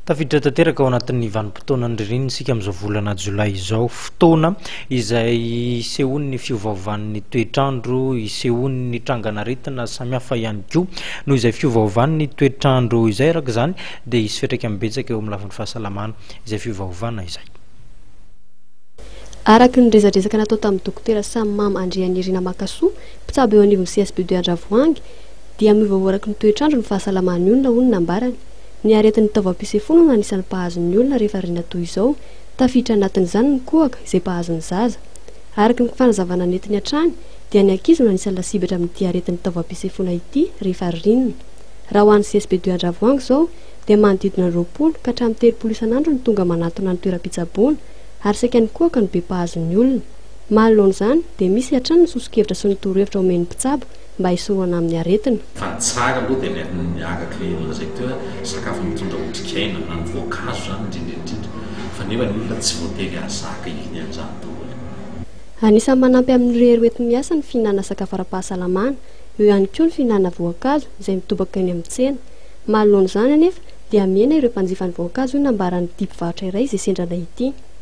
Tafiditra tanteraka ao anatin'ny vanim-potoanan'ny ririnina isika amin'izao volana jolay izao, fotoana izay isehoan'ny fiovaovan'ny toetr'andro, isehoan'ny trangan'aretina samihafa ihany koa. Noho izay fiovaovan'ny toetr'andro izay araka izany dia hisy fiantraikany betsaka eo amin'ny lafiny fahasalamana izay fiovaovana izay. Araka ny resadresaka natao tamin'ny Dokotera Sammam Andrianirina Makasoa, mpitsabo eo anivon'ny CSBD Andravoahangy, dia miovaoa araky ny toetr'andro ny fahasalaman'ny olona, hoy ny nambarany. Ny aretin'ny taovam-pisefoana no anisan'ny mpahazo ny olona rehefa riana toy izao. Tafiditra anatin'izany ny kohaka, izay mpahazo ny zaza. Araka ny fanazavana nentiny hatrany, dia ny ankizy no anisan'ny lasibatra amin'ity aretin'ny taovam-pisefoana ity rehefa riana. Raha ho an'ny CSB de Andravoahangy izao, dia manodidina ny roapolo ka hatramin'ny telopolo isan'andro ny tonga manantona ny toeram-pitsaboana, ary saika ny kohaka no be mpahazo ny olona. Manoloana izany, dia misy hatrany ny soso-kevitra sy ny torohevitra omen'ny mpitsabo, mba hisorohana amin'ny aretina. Fa ny tsara aloha dia ilay miaraka ilay lazaiko teo hoe sakafo mitondra otrikaina na ny voankazo izany indrindra indrindra fa nefa ny olona tsy voatery hahazaka hihina an'izany daholo. Anisan'ny manampy amin'ny rery hoenti-miasa ny fihinanana sakafo ara-pahasalamana, eo ihany koa ny fihinanana voankazo izay mitobaka eny amin'ny tsena. Manoloana izany anefa dia mihena ireo mpanjifan'ny voankazo hoy ny nambaran'ity mpivarotra iray izay sendra anay ity.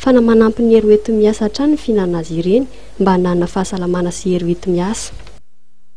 fa na manampy ny hery hoenti-miasa hatrany ny fihinanana azy ireny mba hananana fahasalamana sy hery hoenti-miasa.